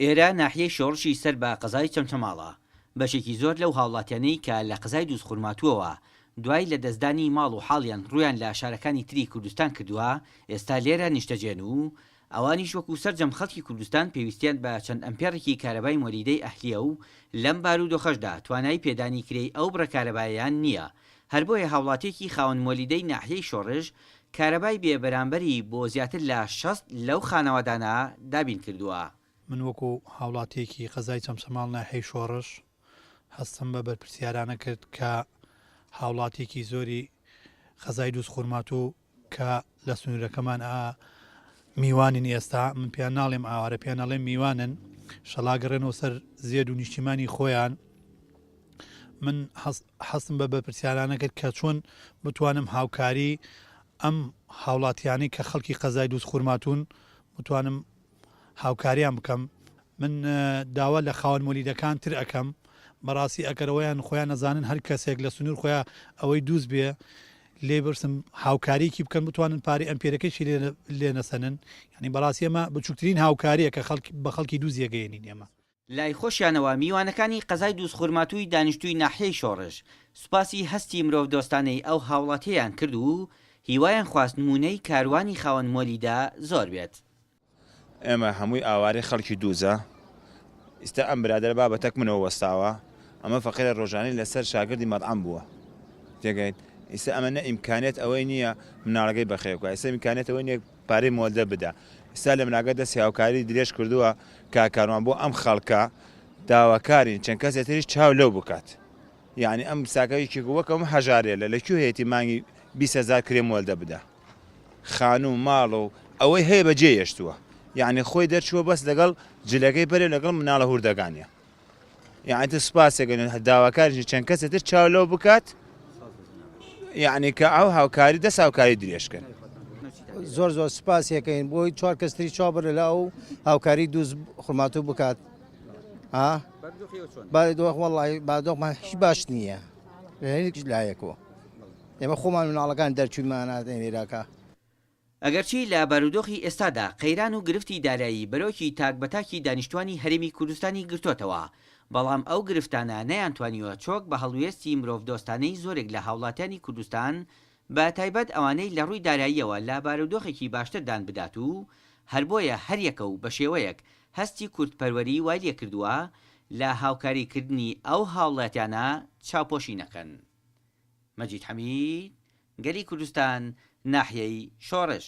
ئێرە ناحیەی شۆڕشی سەر بە قەزای چەمچەماڵە، بەشێکی زۆر لەو هاوڵاتیانەی کە لە قەزای دووزخورماتووەوە دوای لە دەستدانی ماڵ و حاڵیان ڕوویان لە شارەکانی تری کوردستان کردووە ئێستا لێرە نیشتەجێن و ئەوانیش وەکو سەرجەم خەڵکی کوردستان پێویستیان بە چەند ئەمپێڕێکی کارەبای مۆلیدەی ئەهلییە و لەم بارودۆخەشدا توانای پێدانی کرێی ئەو بڕە کارەبایەیان نییە هەر بۆیە هاوڵاتیەکی خاوەن مۆلیدەی ناحیەی شۆڕش کارەبای بێ بەرامبەری بۆ زیاتر لە شەست لەو خانەوادانە دابین کردووە. من وەکو هاوڵاتیەکی قەزای چەمچەماڵ ناحیەی شۆڕش هەستم بە بەرپرسیارانە کرد کە هاوڵاتیەکی زۆری قەزای دووزخورماتوو کە لە سنوورەکەمان ئا میوانن ئێستا من پێیان ناڵێم ئاوارە پێیان ناڵێم میوانن شەڵاگەڕێنەوە سەر زێد و نیشتیمانی خۆیان من حەستم بە بەپرسیارانە کرد کە چۆن بتوانم هاوکاری ئەم هاوڵاتیانی کە خەڵکی قەزای دووست خورماتون بتوانم هاوکاریان بکەم من داوا لە خاوەن مۆلیدەکان تر ئەکەم بەڕاستی ئەکەرەوەیان خۆیان نەزانن هەر کەسێک لە سنور خۆیان ئەوەی دوست بێ لێ برسم هاوکاریکی بکەن بتوانن پارەی ئەم پێرەکەشی لێ نەسەنن ینی بەڕاستی ئەمە بچووکترین هاوکاریە کە خەڵک بە خەڵکی دوو زیێگەێنین ئێمە لای خۆشیانەوە میوانەکانی قەزای دووزخورماتووی دانیشتووی ناحیەی شۆڕش سوپاسی هەستی مرۆڤدۆستانەی ئەو هاوڵاتیەیان کرد و هیوایان خواست نموونەی کاروانی خاوەن مۆلی دا زۆر بێت. ئێمە هەمووی ئاوارەی خەڵکی دووزە ئیستا ئەم برادەرە با بە تەک منەوە وەستاوە ئەمە فەقیرە رۆژانی لەسەر شاگردی مەتعەم بووە تێگەیت ئیستا ئەمە نە ئیمکانیەت ئەوەی نیە مناڵەکەی بەخێو کا ئیستا ئیمکانیەت ئەوەی نیە پارەی مۆلدەڤ بدە ئیستا لەمناکە دەستی هاوکاری درێژ کردووە کاک کاروان بۆ ئەم خەڵکە داواکارین چەند کەسێ تریش چاو لەو بکات یانی ئەم ساکە یەکێک وەک ئەم هەژارێ لە لە کوێ هەیەتی مانگی بیست هەزار کرێ مۆلدە بدا خانوو ماڵ و ئەوەی هەیە بەجێ هێشتووە یانی خۆی دەرچووە بەس لەگەڵ جلەکەی بەرێ لەگەڵ مناڵە هوردەکانیە یانی تۆ سوپاسێک نوێ داواکاریشی چەند کەسێ تر چاو لەو بکات یعنی کە ئەو هاوکاری دەست هاوکاری درێژکەن زۆر زۆر سپاسیەکەین بۆی چوار کەستری چا بەر لە ئەو هاوکاری دووز خورماتوو بکات بادۆخمان هیچ باش نییە لە هەیەکیش لایەکەوە ئێمە خۆمان مناڵەکان دەرچوومانات ئێراکە ئەگەرچی لە بارودۆخی ئێستادا قەیران و گرفتی دارایی بەرۆکی تاک بە تاکی دانیشتوانی هەرێمی کوردستانی گرتۆتەوە، بەڵام ئەو گرفتانە نەیانتوانیوە چۆک بە هەڵوێستی مرۆڤدۆستانەی زۆرێک لە هاوڵاتیانی کوردستان بە تایبەت ئەوانەی لە ڕووی داراییەوە لە بارودۆخێکی باشتر دان بدات و هەر بۆیە هەریەکە و بە شێوەیەک هەستی کوردپەروەری وای لێکردووە لە هاوکاری کردنی ئەو هاوڵاتیانە چاوپۆشی نەکەن. مەجید حەمید، گەلی کوردستان ناحیەی شۆڕش.